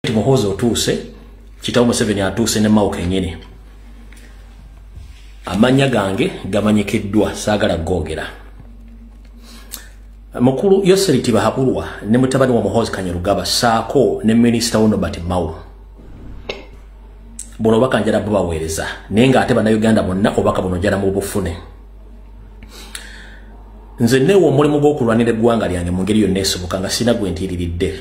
President Muhoozi otuuse kitawo Museveni atuuse ne Mao kenyini amanya gange gamanyikiddwa saagala googera mukulu Yoseri Tibahaburwa ne mutabani wa Muhoozi Kanyarugaba saako ne minisita wo Nobert Mao buno obaka njala bubaweereza naye ng'ate bannayuganda bonna obaka buno njala mu bufune nze neewa omulimu gw'okulwanira eggwanga lyange mu ngeri yonna esoboka nga sirina gwe ntiiriridde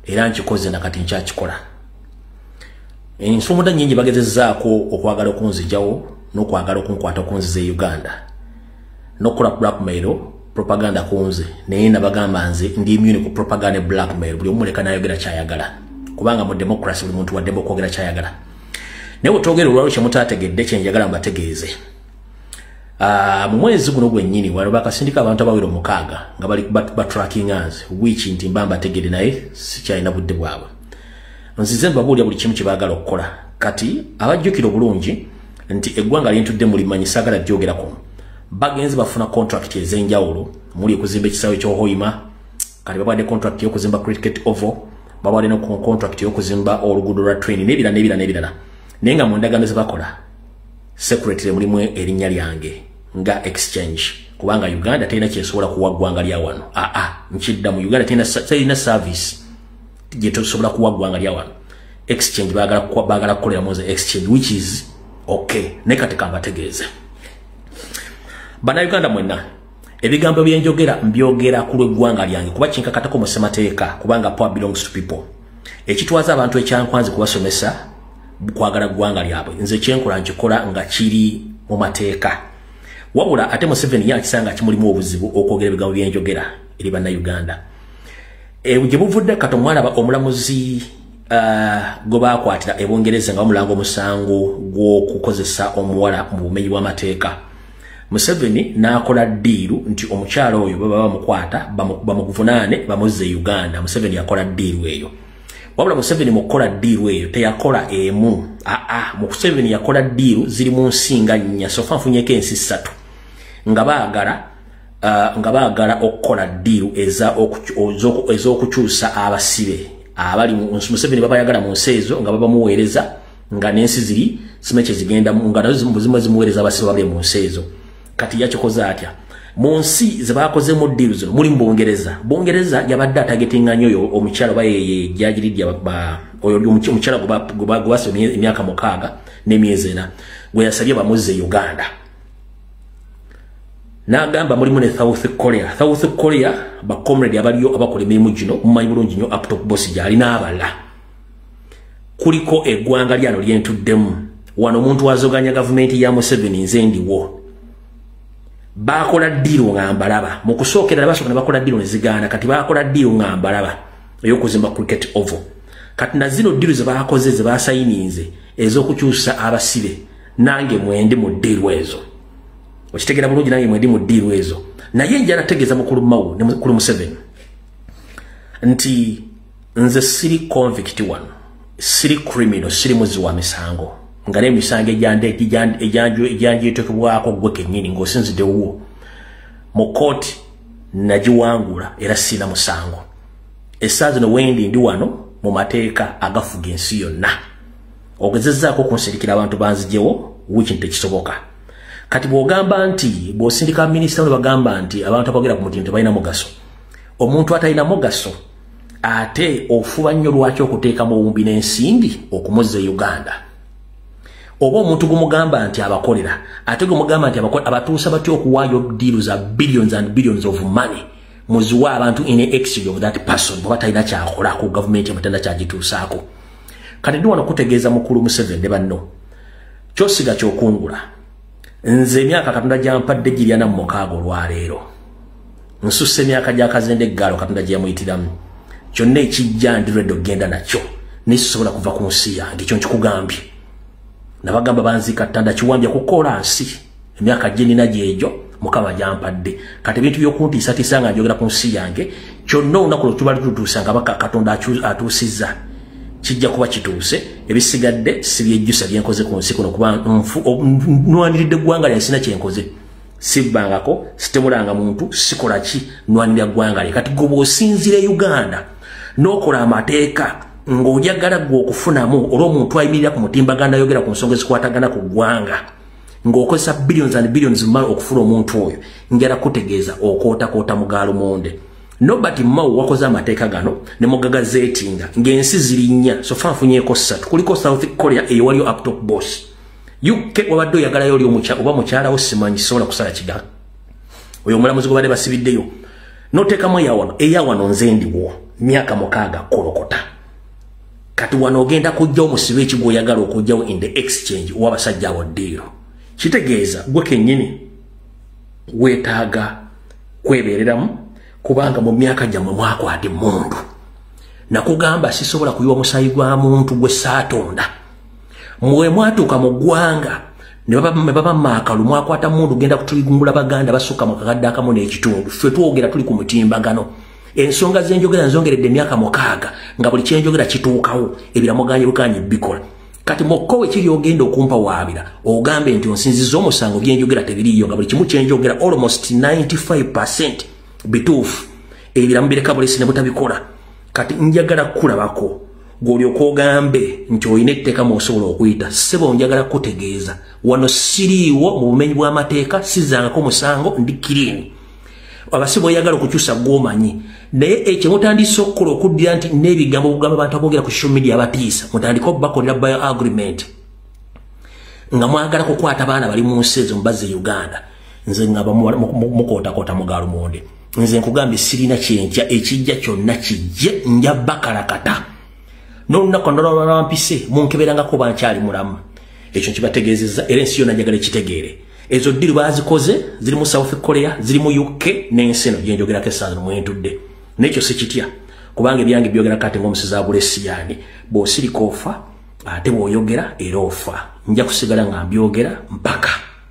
era nkikoze nakati nkyakikola ensumuda nyingi bagezezaako okwagala okunzijawo nokwagala okunkwata okunziza e uganda nokukola blackmail propaganda kunze naye nabagamba nze ndi immune ku propaganda e blackmail buli omuleka nayogera kyayagala kubanga mu democracy buli muntu waddemu okwogera kyayagala naye wetwogera olwalwo kyemutategedde kyenjagala mbategeeze Ah, mu mwezi guno gwennyini wano bakasindika abantu abawera omukaaga nga bali batrackinganz wiiki nti mba mbategere naye sikyalina budde bwabwe nzize mbabuulira buli kimu kyebaagala okukola kati abajjukira obulungi nti eggwanga lyentudde mulimanyi saagala byogera kuno bagenzi bafuna contract ez'enjawulo muli okuzimba ekisaawe kyohoima kati babadde contract y'okuzimba cricket ovo babadde no contract y'okuzimba oluguudo lwa train nebirala nebirala nebirala naye nga mu ndagaano zebakola secretary mulimu erinnya lyange nga exchange kubanga uganda terina kyesobola kuwa ggwanga lya wano aa ah, ah, nkidda mu uganda terina service gyetosobola kuwa ggwanga lya wano exchange bagala kukolera mu nze exchange which is okay naye kati kambategeeze banauganda mwenna ebigambo byenjogera mbyogera ku lweggwanga lyange kuba kinkakatako mu ssemateeka kubanga power belongs to people ekitwaza abantu ekyankwanze kubasomesa kwagala ggwanga lyabwe nze kyenkola nkikola nga kiri mu mateeka wabula ate museveni yakisanga kimulimu obuzibu okwogera ebigambo byenjogera eri bannayuganda eh, gye buvudde kato mwalaba omulamuzi eh, gwe bakwatira ebungereza nga bamulanga omusango gw'okukozesa omuwala mu bumenyi bw'amateeka museveni n'akola ddiiru nti omukyala oyo baba bamukwata bamuvunaane bamuzza e uganda museveni yakola ddiiru eyo wabula museveni mu kukola ddiiru eyo teyakola emu aa museveni yakola ddiiru ziri mu nsinga nnya sofa nfunyeko ensi ssatu nga baagala uh, nga baagala okukola ddiiru ez'okukyusa abasibe abali museveni babayagala mu nsi ezo nga babamuweereza nga n'ensi ziri sima kye zigendamu nga nazo zimu zimuweereza abasibe babe mu nsi ezo kati yakikoze atya mu nsi ze baakozemu ddiiru zino muli mu bungereza bungereza yabadde atagetinga nyo oyo omukyala oba yeye jajiriddya oyo omukyala gwebasa emyaka mukaaga n'emyezi ena gwe yasabye bamuzze uganda n'agamba mulimu ne south korea south korea bacomrade abaliyo abakola emirimu gino mumanyi bulungi nyo aptop bosi gyali n'abala kuliko eggwanga lyano lyentuddemu wano omuntu azoganya gavumenti ya museveni nze ndiwo bakola ddiiro nga mbalaba mu kusookerera basooka ne bakola ddiiro ne zigaana kati bakola ddiiro nga mbalaba ey'okuzimba cricket oval kati na zino ddiiro ze baakoze ze baasayininze ez'okukyusa abasibe nange mwendi mu ddiiro ezo okitegera bulungi nange mwendi mu ddiiro ezo naye njala tegeeza mukulu mawu ne mukulu museveni nti nze siri convict wano siri criminal siri muzi wa misango nga n'emisango egyanjetekebwako gwe kennyini ng'osinzidde wuwo mu kkooti nagiwangula era sirina musango essaawa zino wendi ndi wano mu mateeka agafuga ensi yonna ogezezzaako okunsirikira abantu banzijewo wiki nti tekisoboka kati bw'ogamba nti bw'osindika minisita ne bagamba nti abantu abogera ku mutindo tebalina mugaso omuntu atalina mugaso ate ofuba nnyo lwaki okuteekamu owumbi n'ensimbi okumuzza e uganda oba omuntu gumugamba nti abakolera ate gumugamba nti abatuusa batya okuwaayo diiru za billions and billions of money muziwe abantu in exid of that person oba talina kyakola ku gavumenti amatenda kyagituusaako kati ndi wano kutegeeza mukulu museveni ne banno kyosiga kyokungula nze emyaka katonda gyampadde giryana mu mukaaga olwaleero nsussa emyaka gyakazende eggaalo katonda gye yamuyitiramu kyonna ekijja ndi redi okugenda nakyo naye sisobola kuva ku nsi yange ekyo nkikugambye nabagamba banziika ttanda kiwambya kukola nsi emyaka gye nina gyegyo mukama gyampadde kati ebintu byokuntiisatiisa nga njogera ku nsi yange kyonna olunaku lwe tubali tutuusa nga baka katonda atuusizza kijja kuba kituuse ebisigadde sibyejjusa byenkoze ku nsi kuno kuba nfu nwandiridde eggwanga lyansina kyenkoze sibbangako sitemulanga muntu sikola ki nwanira ggwanga lye kati goba osinzira e uganda n'okola amateeka ng'ojagala gwe okufunamu olw omuntu ayimirira ku mutimbaganda ayogera ku nsonga ezikwatagana ku ggwanga ng'okozesa billions and billions mal okufuna omuntu oyo njala kutegeeza okootakoota mugaalo monde nobert mao wakoze amateeka gano ne mugaga zeetinga ng'ensi zirinnya sofa nfunyeeko ssatu kuliko south korea eyewaliyo aptop boss uk wabadde oyagalayo oli oba mukyalawo simanyi sisobola kusala kiga oyo omulamuzi gwebadde basibiddeyo notekamu eyawano eyawano nze ndiwo myaka mukaaga kolokota kati wano ogenda kujja omusibe eki gwoyagala okujjawo in the exchange owabasajja awo ddiiro kitegeeza gwe kenyini wetaaga kwebereramu kubanga mu myaka gyammwe mwakwata emundu nakugamba sisobola kuyiwa musayi gwa muntu gwe saatonda mwe mwatuuka mu ggwanga nebaba maakalu mwakwata mundu genda kutuligumbula baganda basukka mu kakadde akamu n'ekitundu ffe twogera tuli ku mutimbagano ensonga zenjogera nzongeredde emyaka mukaaga nga buli kyenjogera kituukawo ebiramuganye bukanye bikola kati mukko wekiri ogenda okumpa waabira ogambe nti onsinziza omusango byenjogera tebiriiyo nga buli kimu kyenjogera almost 95 percent bituufu ebiramu bireka bulesi ne butabikola kati njagala kukulabako gwolyoka ogambe nti olina etteeka mwosobola okuyita sebo njagala kutegeeza wano siriiwo mu bumenyi bw'amateeka sizangako musango ndi kiriini abasibe oyagala okukyusa gwomanyi naye ekyo mutandise okukola okuddira nti n'ebigambo okugamba abantu abogera ku social media abatiisa mutandike okubakolera bio agreement nga mwagala kukwata baana bali mu nsi ezo mubazze uganda nze nga mukootakoota mugalumonde nze nkugambye sirina kyenkya ekijja kyonna kijje nja bakalakata nolunaku nolwalwampise munkeberangako bankyali mulamu ekyo nkibategeezezza era ensi yona njagala ekitegeere ezo ddiru bazikoze ziri mu south korea ziri mu uk n'ensi eno gyenjogerako essanza nomwentudde nekyo sikitya kubanga ebyange byogera kati ngaomusezi agula esiyaani bwosirika ofa ate bwoyogera era ofa nja kusigala nga mbyogera mpaka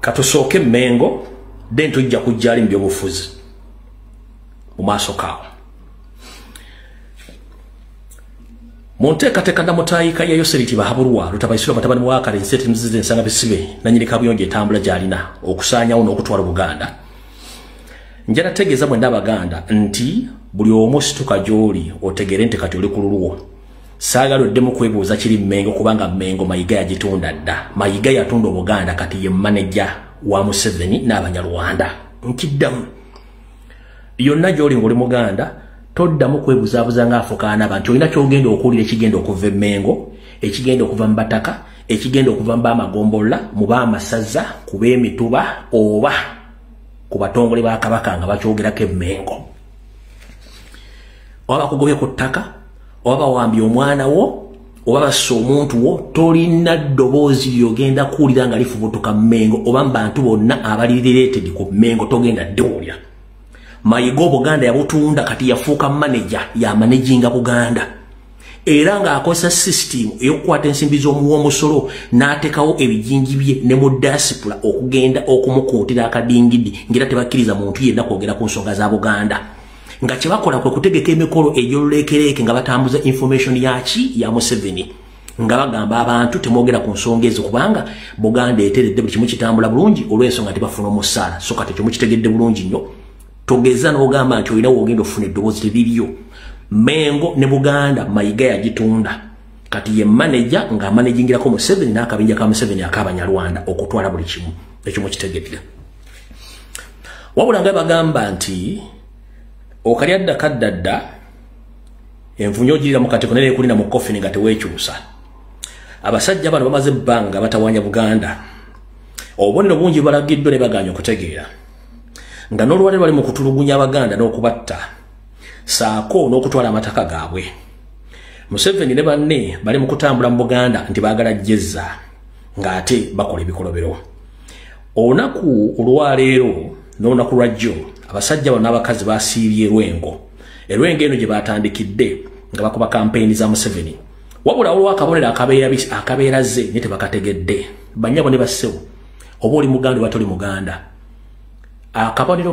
katusooke mengo then tujja kujjali mu byobufuzi mu maaso kaawo mu nteekateeka namutaayika ya yoseriti bahabulwa lutabaisirwa batabani bwakale enseti muzize ensanga bisibe nanyini kabuyonjo etambula gyalina okusaanyawo n'okutwala obuganda njala tegeeza mwena abaganda nti buli omu situka gy'oli otegeere nti kati oli ku lulwo saagala oddemu kwebuuza kiri mengo kubanga mengo mayiga yagitunda dda mayiga yatunda obuganda kati ye maneja wa museveni n'abanyarwanda nkiddamu yonna gyoli ngaoli muganda toddamu kwebuzaabuza ngaafukaana abantu olina kyogenda okuwulira ekigenda okuva emengo ekigenda okuva mu bataka ekigenda okuva mu bamagombolola mu bamasaza ku b'emituba oba ku batongole ba kabaka nga bakyogerako emengo oba bakugobye ku ttaka oba bawambye omwana wo oba bassa omuntu wo tolina ddoboozi lyogenda kuwulira nga lifubutuka mengo oba mu bantu bonna abali related ku mengo togenda ddiwulira mayiga obuganda yabutunda kati yafuuka maneja yamanaginga buganda era ng'akozesa sisitiimu ey'okukwata ensimbi z'omuwomusolo n'ateekawo ebijinji bye ne mu dasipula okugenda okumukuutira akadingidi ng'era tebakkiriza muntu yenna kwogera ku nsonga za buganda nga kye bakola kwe kutegeka emikolo egy'oluleekereeke nga batambuza information yaki ya museveni nga bagamba abantu temwogera ku nsonga ezo kubanga buganda eteredde buli kimu kitambula bulungi olw'ensonga tebafuna omusaala so kati ekyo mukitegedde bulungi nnyo togeza nogamba nti olina wogenda ofuna eddoboozi tebiriyo mengo ne buganda mayiga yagitunda kati ye manaja nga amanajingirako museveni n'akabinja ka museveni ak'abanyarwanda okutwala buli kimu ekyo mukitegeera wabula nga bagamba nti okali adda kadda dda envunyo ogirira mu katiko nera ekulina mu kofini nga teweekyusa abasajja bano bamaze ebbanga batawanya buganda obubonero bungi balagiddwa ne bagaanya okutegeera nga n'olwale lwali mu kutulugunya abaganda n'okubatta saako n'okutwala amataka gaabwe museveni ne banne bali mu kutambula mu buganda nti baagala jjezza ng'ate bakola ebikolobero olunaku olwaleero n'olunaku lwa jjo abasajja bano n'abakazi basiibye erwengo erwengo eno gye baatandikidde nga bakuba kampeyini za museveni wabula olwakabonero akabeera ze ne tebakategedde banyabo ne bassebo oba oli muganda oba toli muganda akabonero